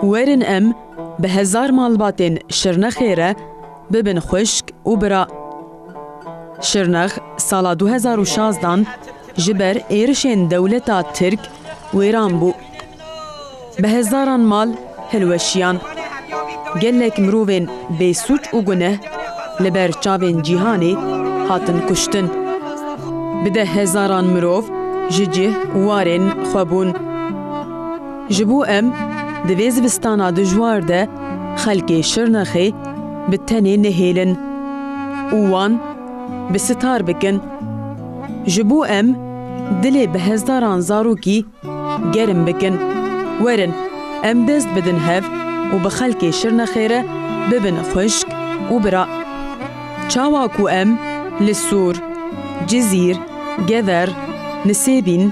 Werin em bi hezar malbatên Şirnexê re bibin xwişk û bira. Şirnex sala du hezar û şazdan ji ber êrişên dewleta Tirk wêran bû. Bi hezaran mal hilweşiyan. Gelek mirovên bêsûc û guneh li ber çavên cîhanê hatin kuştin. Bi deh hezaran mirov ji cih û warên xwe bûn. Ji bo em di vê zivistana dijwar de xelkê Şirnexê bi tenê nehêlin û wan bi sitar bikin. Ji bo em dilê bi hezaran zarokî Gerim bikin. Werin em dest bidin hev û bi xelkê Şirnexê re bibin xwişk û bira. Çawa ku em li Sûr, Cizîr, Gever, Nisêbîn,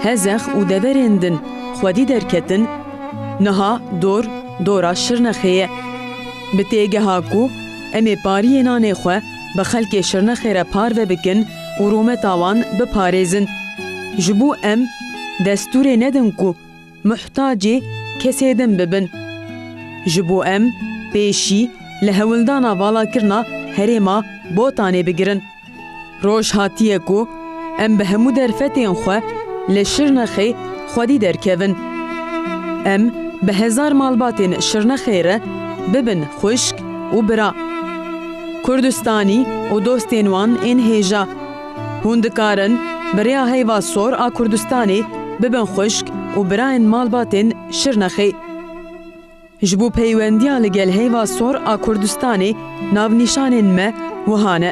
Hezex û deverên din xwedî derketin, niha dor dora Şirnexê ye. Bi têgeha ku em ê pariyê nanê xwe, bi xelkê Şirnexê re parve bikin û rûmeta wan biparêzin. Ji bo em destûrê nedin ku muhtacê kesê din bibin. Ji bo em pêşî li hewildana valakirina herêma Botanê bigirin. Roj hatiye ku Em bi hemû derfetên xwe li Şirnexê xwedî derkevin. Em bi hezar malbatên Şirnexê re bibin xwişk û bira. Kurdistanî û dostên wan ên hêja. Hûn dikarin bi rêya heyva sor a Kurdistanê bibin xwişk û birayên malbatên Şirnexê. Ji bo peywendiya li gel heyva sor a Kurdistanê navnîşanên me wiha ne.